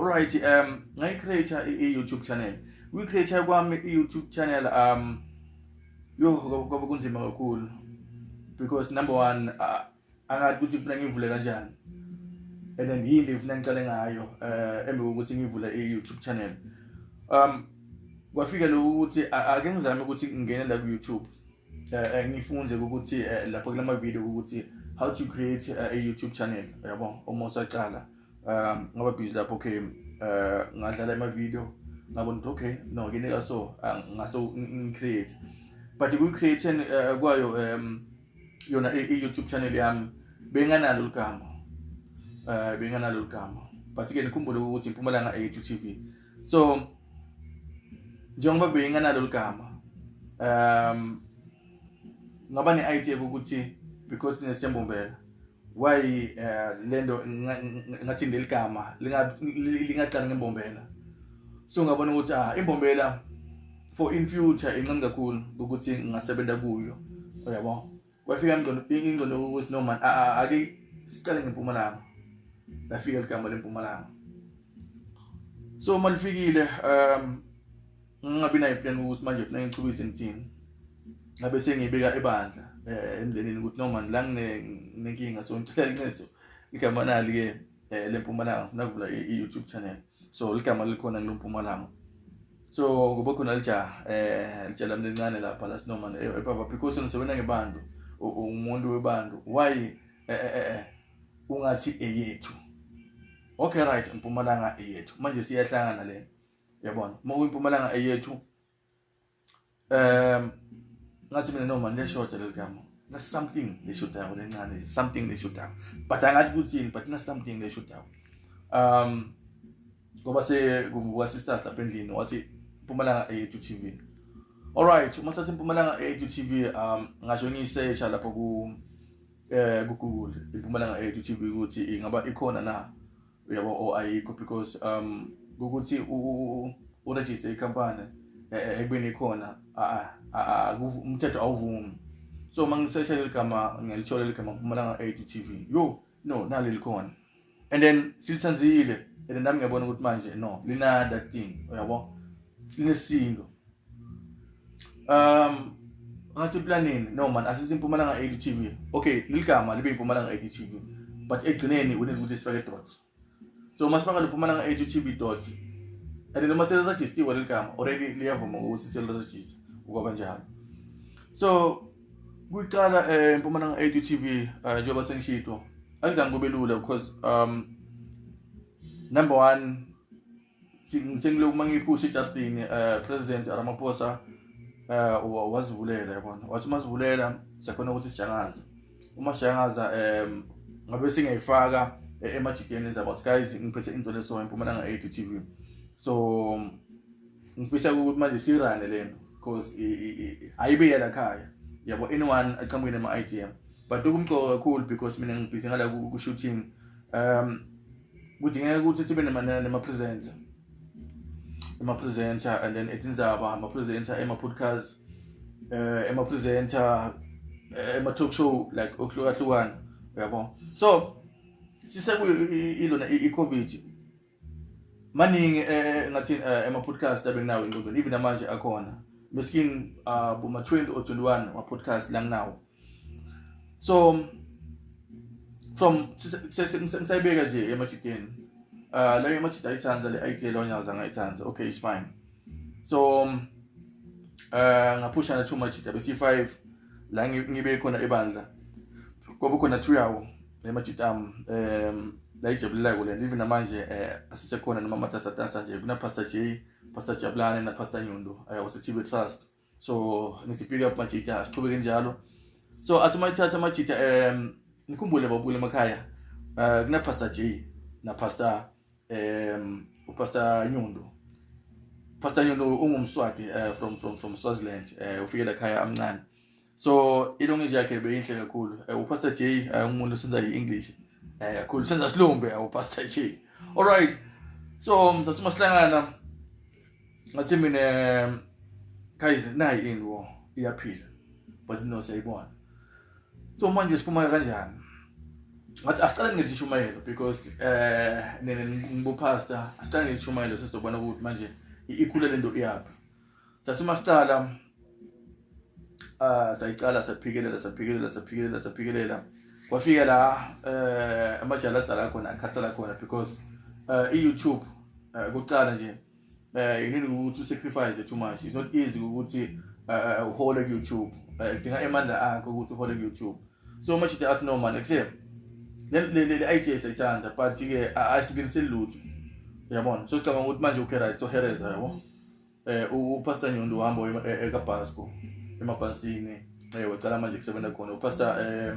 Alright um ngayi create i YouTube channel. We create kwami i YouTube channel um yo kwaba kunzima kakhulu because number 1 uh, angathi ukuthi ngifuna ngivule kanjani. And then yini ngifuna ngicale ngayo eh embe ukuthi ngivule i YouTube channel. Um kwafika lokuthi ake ngizame ukuthi ngingene la ku YouTube. Eh, eh ngifunde ukuthi eh, lapho kulama video ukuthi how to create a YouTube channel yabo uma usaqala. um ngaba busy lapho okay uh ngadlala ama video ngabona ukuthi okay no ngineka so ah, ngase ngicreate but ku creation uh, kwayo um yona i YouTube channel yami benganalo ligama eh benganalo ligama but ke nikhumbule ukuthi impumalanga e YouTube TV so njengoba benganalo ligama um ngaba ne idea ukuthi because nesiyambombela why eh, lento ngathi ndeligama lingaqala ngembombela so ngabona ukuthi ah imbombela for in future incane kakhulu ukuthi ngingasebenza kuyo uyabo kwafika ingqondo ingqondo ukuthi no man ake sicale ngempumalanga lafika ligama lempumalanga so malifikile um ngingabi nayo plan ukuthi manje funa ngichubise ngithini ngabe sengiyibeka ebandla eh, emndenini ukuthi noma la nginenkinga so ngicela incedo igama nali ke eh, lempumalanga ngifuna kuvula i-youtube channel so ligama likhona kulompumalanga so ngoba khona lijaha eh litshela mina lincane lapha la sinoma ebaba eh, because ngisebenza ngebantu umuntu webantu why eh, eh eh eh ungathi eyethu okay right mpumalanga eyethu manje siyahlangana lena yabona uma uyimpumalanga eyethu um ngathi mina noma leshoda leli gama na something leshodayo lencane something leshodayo but angathi kuthini but na something leshodayo um ngoba sekuvuka sisters lapha endlini wathi impumalanga eyethu tv alright uma sathi impumalanga eyethu tv um ngasho ngiyisesha lapho ku eh kugoogle impumalanga eyethu tv ukuthi ingaba ikhona na uyabo o oh, ayikho because um ukuthi uregister ikampani e, e, ekubeni ikhona umthetho awuvumi so uma ngisesha leli gama ngilithola leli gama mpumalanga eight tv yo no nalo likhona and then silithanzile and then nami ngiyabona ukuthi manje no linada thing uyabo linesindo um ngathi eplaneni no man asisi impumalanga 80 tv okay liligama libe impumalanga 80 tv but egcineni unele ukuthi sifake dot so uma sifaka lempumalanga 80 tv dot and noma selirejistiwe leligama already liyavuma ukuthi selirejista ukwaba njalo so kuqala eh, empumalanga 80 tv eh, njengoba sengishito akuzange kube lula because um number 1 sengilokhu uma ngiphusha ejardini um president ramaphosa um wazivulela yabona wathi uma zivulela siyakhona ukuthi sijangaze uma sijangaza um ngabe singayifaka eh, emajideni ezabo guys ngiphethe into leso empumalanga eight t v so ngifisa ukuthi manje sirane le nto because ayibe yala khaya yabo anyone aqhamukile ema-idm but okumqoka kakhulu because mina ngibhizi ngala ku-shooting um kudingeka ukuthi sibe nama-presenter ema-presenter and then etinzaba ama-presenter ema-podcast um ema-presenter eh, ema-talk show like okuhlukahlukana uyabona so sisekuyilona i-covid maningi eh, ngathi eh, ama-podcast abenginawo engqondweni even namanje akhona meskin ah, boma-20 or 21 ama-podcast langinawo so from ngisayibeka nje emajideni uh, ah, leyo emajidi ayithanda le idea leyo nyaza ngayithanda okay it's fine so um, uh, ngaphusha na two majidi abe c5 la ngibe khona ebandla kwabe khona two yawo le majidi am um la ijabulilako le even namanje eh asisekhona noma amatasatasa nje kuna pastor J pastor Jabulane na pastor Nyundo ayawosithibe eh, trust so ngithi pick up majita siqhubeke njalo so athi uma ithatha amajita um ngikhumbule babukule emakhaya um kunapastor j napastor um upastor nyundo pastor nyundo ungumswati um from from from swaziland um ufike la khaya amncane so ilongeji yakhe beyinhle kakhulu um upastor j ungumuntu senza i-english um kakhulu senza silumbe upastor j all right so msasuma sihlangana ngathi mina guys nayi ini wo iyaphila but no siyayibona so manje siphuma kanjani ngathi asiqale ngelishumayelo because eh nene ngibupastor asiqale ngelishumayelo sesizobona ukuthi manje ikhule lento iyaphi sasuma siqala ah sayiqala saphikelela saphikelela saphikelela saphikelela kwafika la eh amajala adzala khona akhatsala khona because eh i-YouTube eh, kuqala nje eh you need ukuthi usacrifice too much it's not easy ukuthi eh, uhole ku YouTube eh, kudinga emandla akho ukuthi uhole ku YouTube so much the art no man except le le le idea sayithanda but ke ayisikiniseli lutho yabona so sicabanga ukuthi manje ukhe right so hereza yabo eh upastor Nyondo uhamba eh, ekabhasco emabhasini eh wacala manje kusebenza khona upastor eh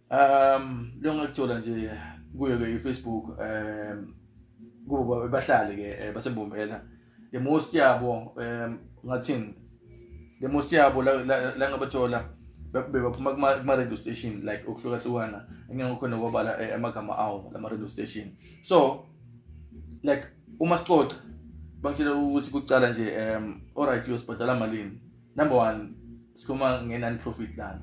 Um lo ngakuthola nje kuyo ke iFacebook um kubo bahlale ke eh, basembombela le most yabo um ngathini le most yabo la la ngabathola bebaphuma kuma radio station like okuhlukahlukana engekho nokwabala eh, amagama awo lama radio station so like uma sicoca bangitshela ukuthi kucala nje um alright uyosibhadala malini number one sikhuluma nge-non profit lana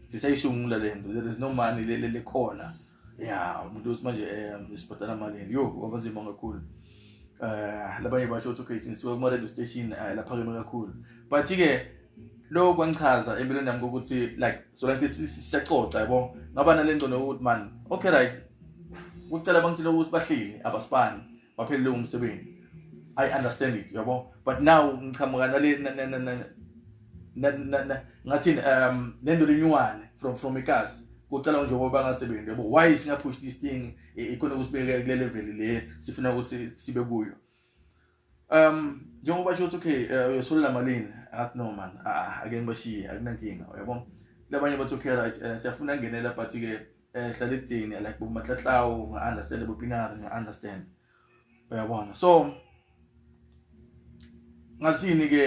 sisayisungula le nto there is no money lele lekhona ya umuntu uthi manje um sibhadala malini yo kwabanzima kakhulu um labanye basho ukuthi okay sinisuka kuma-radio station um laphakeme kakhulu but-ke lokho kwangichaza empilweni yami kokuthi like so like siyacoca yabo ngaba nale ngcono yokuthi mani okay right kucela bangitshela ukuthi bahleli abasibani waphelelwe umsebenzi i understand it yabo but now ngichamuka nale ngathi um lento lenywane from from ikasi kucela nje ngoba bangasebenzi yabo why singa push this thing e, ikona ukusibeka kule level le sifuna ukuthi sibe kuyo um njengoba sho ukuthi okay eh, uyosolela malini athi no man ah, ake ngibashiye akunankinga yabo labanye bathi okay right eh, siyafuna ngenela but ke eh hlala ekuthini like bo matlatlawo nga understand bo pinari nga understand uyabona so ngathini ke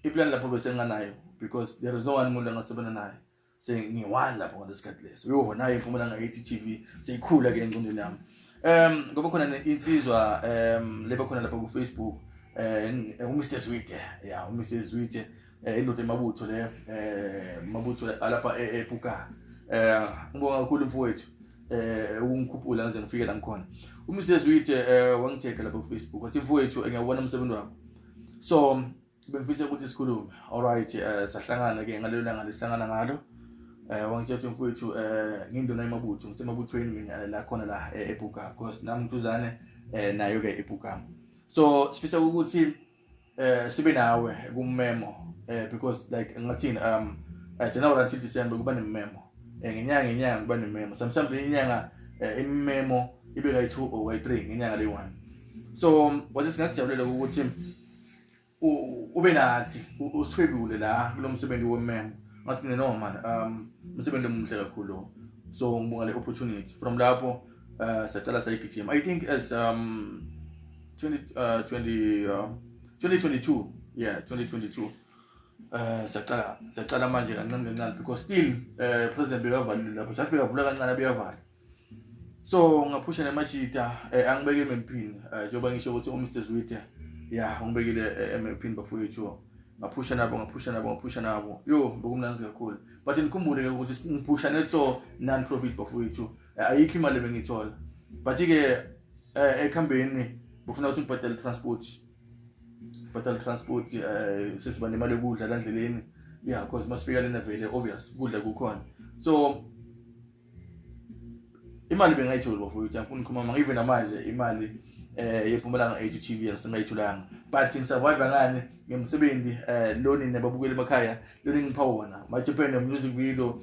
iplan lapho bese nganayo because there is no one umuntu angasebona naye sengiwani lapho ngalesikhathi leso yho naye iphumela ngayithi TV seyikhula ke engqondweni yami um ngoba khona insizwa um leba khona lapha ku-facebook um eh, uMr Zwide ya uMr Zwide eh, indoda emabutho le eh mabutho alapha e, epuka eh ngibonga kakhulu mfowethu eh ukungikhuphula ngize ngifike la ngikhona umsebenzi uyithe eh wangitheka lapha ku Facebook wathi mfowethu ngiyawubona umsebenzi wakho so bengifisa ukuthi sikhulume alright eh sahlangana ke ngalelo langa lesihlangana ngalo eh wangitshela mfowethu eh ngindona emabutho ngisemabuthweni mina la khona la eh, ebuka because nami mtuzane eh nayo ke ebuka so sifisa ukuthi eh sibe nawe kummemo eh because like ngathini um eh, I January until December kuba nememo eh ngenyanga ngenyanga kuba nememo sometimes inyanga eh, imemo ibe kayi 2 or kayi 3 ngenyanga le 1 so um, wathi singakujabulela ukuthi ube nathi usifebule la kulomsebenzi wememo ngathi mina no man um umsebenzi omuhle kakhulu so ngibonga le opportunity from lapho uh, sacala sayigijima i think as um 20 uh, 20 uh, 2022 yeah 2022 uh, sacala sacala manje kancane kancane because still uh, president bekavalile lapho just bekavula kancane beyavala so ngaphusha nemajita eh, angibeke emempini eh, njengoba ngisho ukuthi umr zwite ya ungibekile eh, emempini bafowethu ngaphusha nabo ngaphusha nabo ngaphusha nabo yo bekumnandi kakhulu but ngikhumbule-ke ukuthi ngiphusha neso non-profit bafowethu ayikho imali ebengiyithola but ke eh, ekhambeni bufuna usibhadale transport bhadale transport eh, sesiba nemali yokudla la ndleleni yeah because masifika lena vele obvious kudla kukhona so imali bengayitholi bafowethu angifuni ukhuluma manga even namanje imali eh yephumela nge HTV ngisengayitholanga but ngisurvive ngani ngemsebenzi eh loni nababukeli emakhaya loni ngipha wona my Japan music video